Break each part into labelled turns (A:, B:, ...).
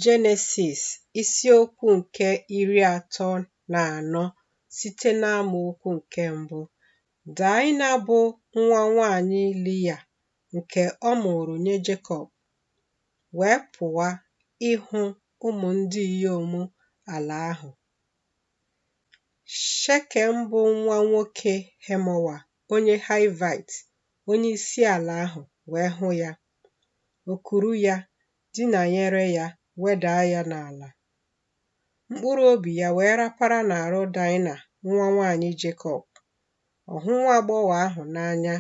A: Jenesis isiokwu nke iri atọ na anọ site n'amaokwu nke mbụ. Daịna bụ nwa nwanyị Liya nke ọ mụrụ nye Jekọb wee pụwa ịhụ ụmụ ndị inyom ala ahụ. Shekem bụ nwa nwoke Hemowa onye Hivite, onye isi ala ahụ wee hụ ya. O kuru ya, dinanyere ya, wedaa ya n'ala. Mkpụrụ obi ya wee rapara n'arụ Daịna nwa nwaanyị Jekọb. Ọ hụ nwa agbọghọ ahụ n'anya,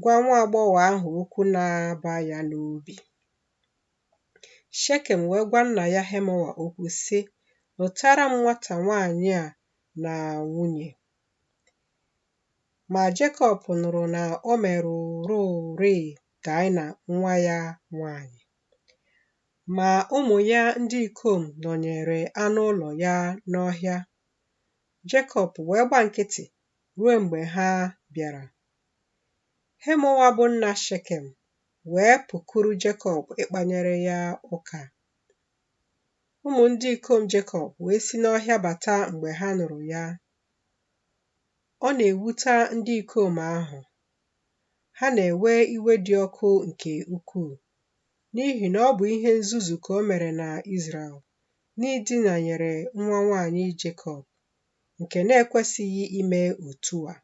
A: gwa nwa agbọghọ ahụ okwu na-aba ya n'obi. Shekem wee gwa nna ya Hemowa okwu sị, Lụtara m nwata nwaanyị a na nwunye. Ma Jekọb nụrụ na o merụrụrịị Daịna nwa ya nwanyị. Ma ụmụ ya ndị ikom nọnyere anụ ụlọ ya n'ọhịa. Jekọb wee gba nkịtị ruo mgbe ha bịara. Hemowa bụ nna Shekem wee pụkuru Jekọb ịkpanyere ya ụka. Ụmụ ndị ikom Jekọb wee si n'ọhịa bata mgbe ha nụrụ ya Ọ na-ewuta ndị ikom ahụ, ha na-ewe iwe dị ọkụ nke ukwuu, n'ihi na ọ bụ ihe nzuzu ka o mere na Izrel n'idinanyere nwa nwaanyị Jekọb, nke na-ekwesịghị ime otu a.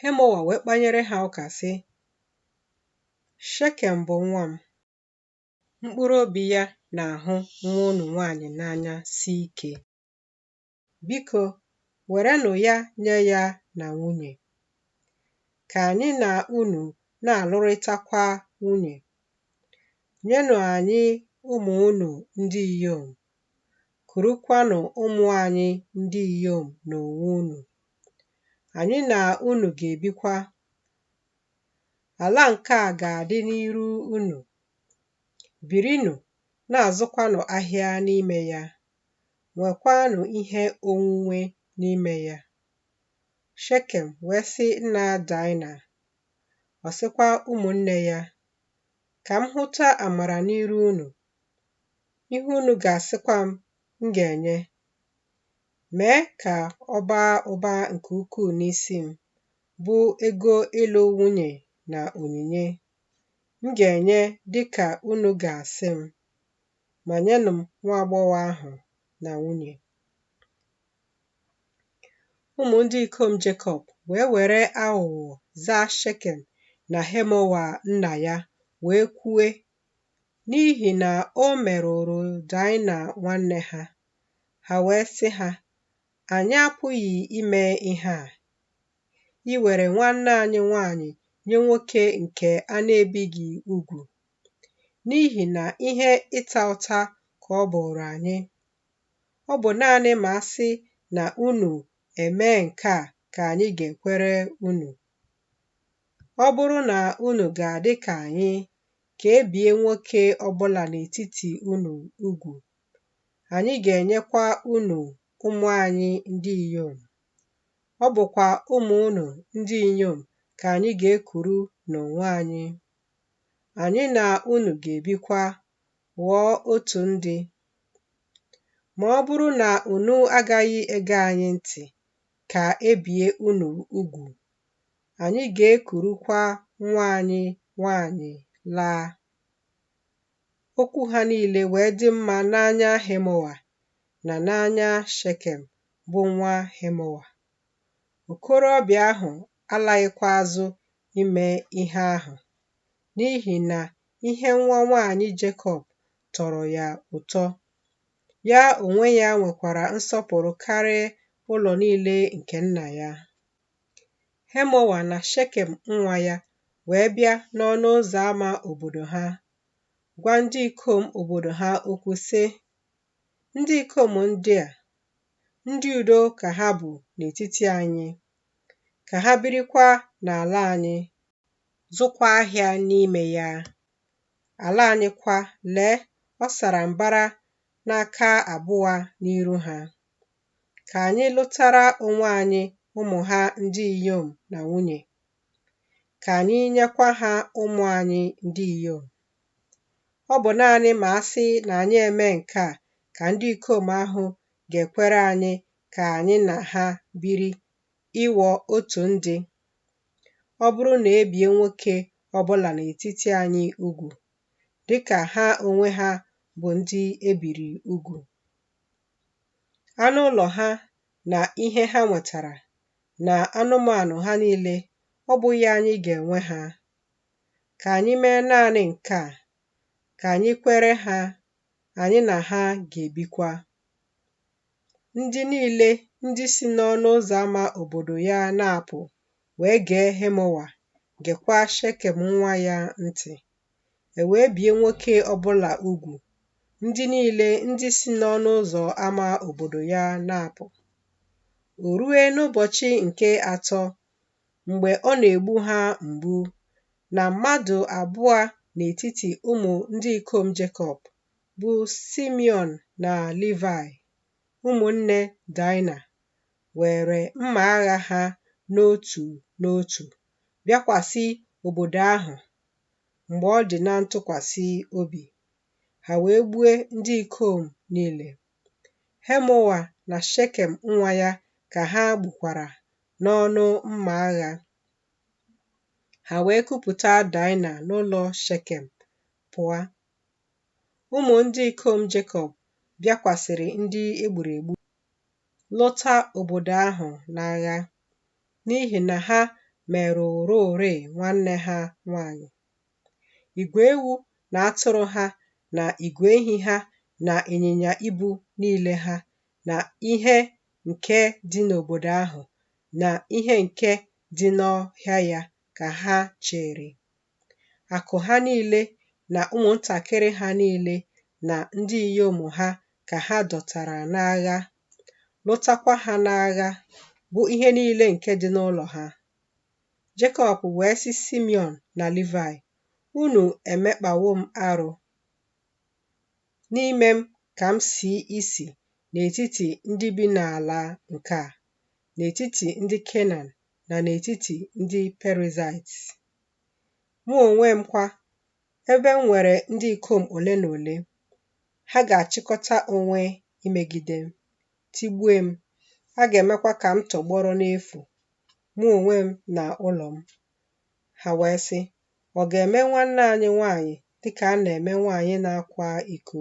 A: Hemowa wee kpanyere ha ụka, sị, Shekem bụ nwa m, mkpụrụ obi ya na-ahụ nwa unu nwaanyị n'anya si ike. Biko, werenụ ya nye ya na nwunye. Ka anyị na unu na-alụrịtakwa nwunye. Nyenụ anyị ụmụ unu ndị inyom, kurukwanụ ụmụ anyị ndị inyom n'onwe unu. Anyị na unu ga-ebikwa. Ala nke a ga-adị n'iru unu. Birinụ, na-azụkwanụ ahịa n'ime ya. nwekwaanụ ihe onwunwe n'ime ya. Shekem wee sị nna Daịna, ọ sịkwa ụmụnne ya, Ka m hụta amara n'iru unu, ihe unu ga-asịkwa m, m ga-enye. Mee ka ọ baa ụba nke ukwuu n'isi m, bụ ego ịlụ nwunye na onyinye. M ga-enye dị ka unu ga-asị m. ma nyenụ m nwa agbọghọ ahụ na nwunye. Ụmụ ndị ikom Jekọb wee were aghụghọ zaa Shekem na Hemowa nna ya wee kwue, n'ihi na o merụrụ Daịna nwanne ha. Ha wee sị ha, Anyị apụghị ime ihe a. Iwere nwanne anyị nwaanyị nye nwoke nke a na-ebighị ugwu n'ihi na ihe ịta ụta ka ọ bụụrụ anyị. Ọ bụ naanị ma a sị na unu emee nke a ka anyị ga-ekwere unu. Ọ bụrụ na unu ga-adị ka anyị, ka e bie nwoke ọ bụla n'etiti unu ugwu, anyị ga-enyekwa unu ụmụ anyị ndị inyom. Ọ bụkwa ụmụ unu ndị inyom ka anyị ga-ekuru n'onwe anyị. anyị na unu ga-ebikwa, ghọọ otu ndị. Ma ọ bụrụ na unu agaghị ege anyị ntị ka e bie unu ugwu, anyị ga-ekurukwa nwa anyị nwaanyị laa. Okwu ha niile wee dị mma n'anya Hemowa na n'anya Shekem bụ nwa Hemowa. Okorobịa ahụ alaghịkwa azụ ime ihe ahụ n'ihi na ihe nwa nwaanyị Jekọb tọrọ ya ụtọ. Ya onwe ya nwekwara nsọpụrụ karịa ụlọ niile nke nna ya. Hemowa na Shekem nwa ya wee bịa n'ọnụ ụzọ ama obodo ha, gwa ndị ikom obodo ha okwu sị, Ndị ikom ndị a, ndị udo ka ha bụ n'etiti anyị. ka ha birikwa n'ala anyị, zụkwa ahịa n'ime ya. Ala anyị kwa, lee, ọ sara mbara n'aka abụọ n'iru ha. Ka anyị lụtara onwe anyị ụmụ ha ndị inyom na nwunye, ka anyị nyekwa ha ụmụ anyị ndị inyom. Ọ bụ naanị ma a sị na anyị emee nke a ka ndị ikom ahụ ga-ekwere anyị ka anyị na ha biri ịghọ otu ndị. Ọ bụrụ na e bie nwoke ọ bụla n'etiti anyị ugwu, dị ka ha onwe ha bụ ndị e biri ugwu, anụ ụlọ ha na ihe ha nwetara na anụmanụ ha niile, ọ bụghị anyị ga-enwe ha? Ka anyị mee naanị nke a, ka anyị kwere ha, anyị na ha ga-ebikwa. ndị niile ndị si n'ọnụ ụzọ ama obodo ya na-apụ wee gee Hemowa, gekwa Shekem nwa ya ntị. E wee bie nwoke ọbụla ugwu, ndị niile ndị si n'ọnụ ụzọ ama obodo ya na-apụ. O rue n'ụbọchị nke atọ, mgbe ọ na-egbu ha mgbu, na mmadụ abụọ n'etiti ụmụ ndị ikom Jekọb bụ Simiọn na Livai, ụmụnne Daịna, weere mma agha ha n'otu n'otu bịakwasị obodo ahụ mgbe ọ dị na ntụkwasị obi, ha wee gbue ndị ikom niile. Hemowa na Shekem nwa ya ka ha gbukwara n'ọnụ mma agha. Ha wee kupụta Daịna n'ụlọ Shekem pụọ Ụmụ ndị ikom Jekọb bịakwasịrị ndị e gburu egbu, lụta obodo ahụ n'agha, n'ihi na ha merụwororịị nwanne ha nwanyị. Igwe ewu na atụrụ ha na igwe ehi ha na ịnyịnya ibu niile ha na ihe nke dị n'obodo ahụ na ihe nke dị n'ọhịa ya ka ha chịịrị Akụ ha niile na ụmụntakịrị ha niile na ndị inyom ha ka ha dọtara n'agha, lụtakwa ha n'agha, bụ ihe niile nke dị n'ụlọ ha. Jekọb wee sị Simiọn na Livaị, Unu emekpawo m arụ n'ime m ka m si isi n'etiti ndị bi n'ala nke a, n'etiti ndị Kenan na n'etiti ndị Perizaịt. Mụ onwe m kwa, ebe m nwere ndị ikom ole na ole, ha ga-achịkọta onwe imegide m, tigbue m, a ga-emekwa ka m tọgbọrọ n'efu, mụ onwe m na ụlọ m. Ha wee sị, Ọ ga-eme nwanne anyị nwaanyị dị ka a na-eme nwaanyị na-akwa iko.